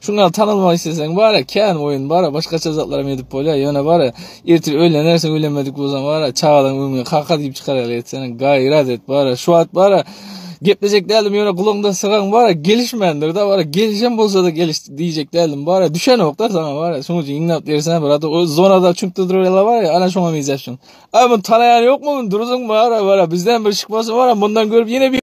Şuny al tanalmak isleseň bara kän oýun bara başgaça zatlar hem edip bolýar ýöne bara ertir öýlenersiň öýlenmedik bolsaň bara çagalaň öňüne kaka diýip çykarýarlar etsene gaýrat et bara şu wagt bara geplejek däldim ýöne gulagyňda sygan bara gelişmändir da bara gelişen bolsa da geliş diýjek däldim bara düşenokda sana bara şoň üçin ýygnap bersen bir ata o zonada çüňkde durýarlar bara ana şoňa meýzäp şoň a muny tanaýan ýokmy muny duruzyň bara bara bizden bir şykmasy bara mundan görüp ýene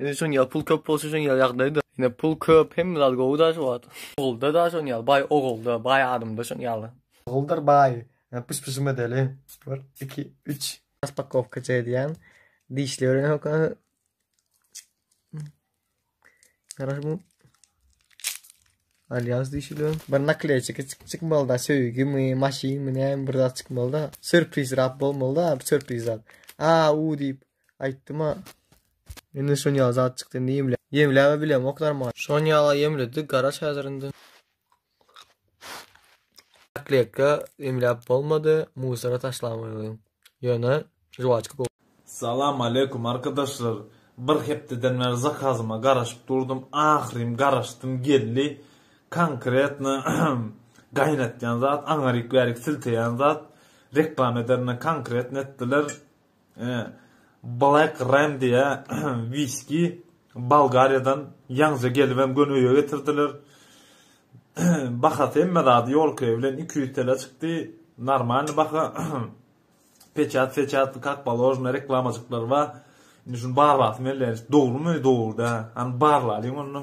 Indi şoň ýaly pul köp bolsa şoň ýaly ýagdaýda. Ine pul köp hemme zat gowy da şu wagt. Ogulda da şoň ýaly baý ogulda baý adamda şoň ýaly. Oguldyr baý pyş pyşym edeli bir iki üç. Raspakowkaçy edýän dişli ören hoka. Garaş bu. Alýas dişli. Bir nakleýçi kiçik çykmaly da söýgi mi maşyn mi näme bir zat çykmaly da. Sürpriz rap bolmaly da bir sürpriz zat. A u diýip Aýtdym-a. Indi şuny ýaly zat çykdy, indi ýemle. Ýemläb-ä bilemok normalny. Şuny ýaly-a ýemledi, garaş häzir indi. Nakleyka ýemläp bolmady, musora taşlamaly welin. Ýöne žuwaçka gowy. Salam aleýkum arkadaşlar bir hepdeden bäri zakazyma garaşyp durdum ahyrym garaşdym geldi konkretno gaýnatýan zat aňaryk bärik silteýän zat reklam ederine konkretno etdiler Black Ram diýä wiski Bolgariýadan ýaňja gelibem göni öýe getirdiler. Bahasy hemme zady ýolkaýy bilen iki ýüz tele çykdy. Normalny baha. Peçat seçat kak položno reklamajyklar bar. Indi şuny barlasym gelýär. Dogrumy, dogry dä. Hany barlalyň onda.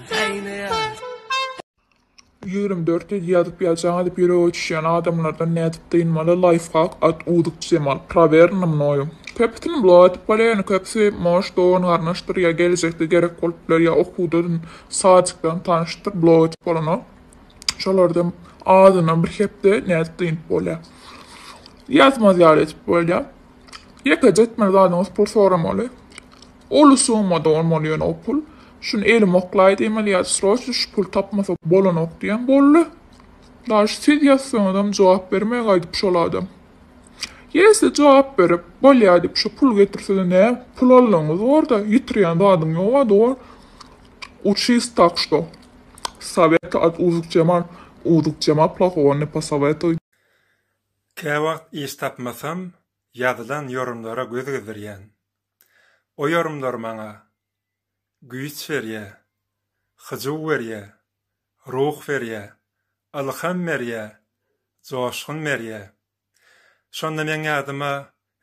Ýigrimi dört ýedi ýazyp ýazjaň edip ýürege çişýän adamlardan nädip dynmaly laýfhak at uzyk jemal prawerno mnoyu köpüsini blok edip bolýa ýöne köpüsi moş dogan garnaşdyr ýa gelejekde gerek bolup biler ýa okuwdan sadikden tanyşdyr blok edip bolanok şolardan azyndan bir hepde nädip dynyp bolýa ýazmaz ýaly edip bolýa ýekeje etmeli zadyňyz pul soramaly. Uly summada bolmaly ýöne o pul. Şuny elim oklaýdy emeli ýa sroçno şu puly tapmasak bolanok diýen boldy. Daş siz ýazsaňyzam jogap bermeýär gaýdyp şol adam. Ýese jogap berip, bolýa diýip şu pul getirsede nä pul alanyňyz borda ýitirýän zadyň ýoga dogan. Uçist tak şto. Sowet at uzuk cemal uzuk cema plahogo ne posowetuj. Käwagt iş tapmasam ýazylan ýorumlara göz gezdirýän. O ýorumlar maňa güýç berýä, hyjuw berýä, ruh berýä, ylham berýä, joşgun berýä. Şonda meň ýadyma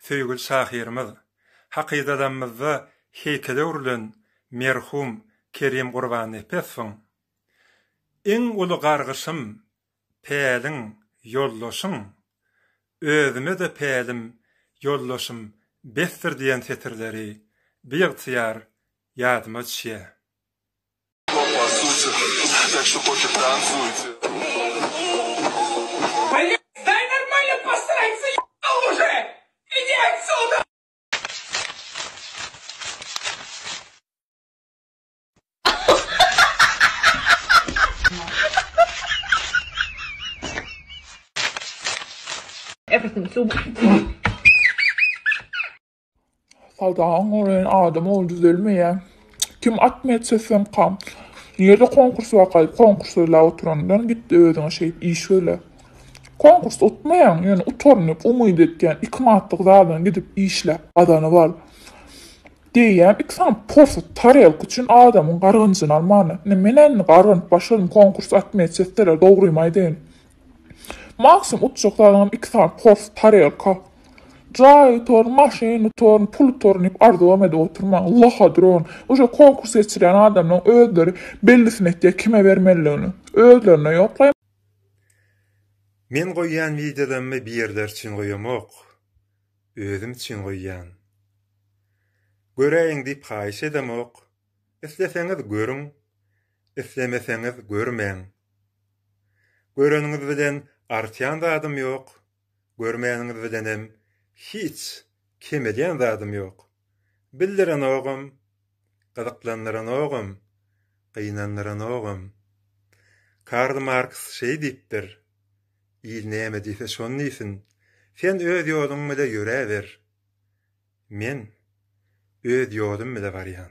söýgüli şahyrymyz, hakydadamymyzda heýkele öwrülen merhum Kerim Gurbannepesowyň Iň uly gargyşym päliň, ýoldaşyň, Özüme-de pälim, ýoldaşym besdir diýen setirleri biygtyýar ýadyma düşýär. Sadaň oren adam ol düzelmeýä. Kim atma etse sen kam. Nirde konkurs wakaý? Konkurs öyle oturandan gitdi özüňe şeýt iş öyle. Konkurs utmaýaň, ýöne utarnyp umyt etýän iki manatlyk zadan gidip işle. Gazanyp al. Diýýän iki sany porsut tarelka üçin adamyň gargynjyny almana. Ine, men-ä indi gargynyp başladym, konkurs atmyýa çekseler, dogrymy aýdaýyn. Maksimum utjak zadyňam iki sany porsut tarelka. Jaý utaryn, maşyn utaryn, pul utaryn diýip arzuwam edip oturmaň. Laha duran. Uje konkurs geçirýän adamlaň özleri bellisini etýä kime bermelidigini. Özlerine ýok laý. Men goýýan wideolarmy bir ýerler üçin goýamok. özüm üçin goýýan. Göräýiň diýip haýyş edemok, isleseňiz görüň, islemeseňiz görmäň. Göreniňiz bilen artýan zadym ýok, görmäniňiz bilenem hiç kemelýän zadym ýok. Bildirenogam, gyzyklandyranogam, gynandyranogam. Karl Marks şeý diýipdir, Il näme diýse şony diýsin, sen öz ýoluň bile ýöräber. Men öz ýolum bile barýan.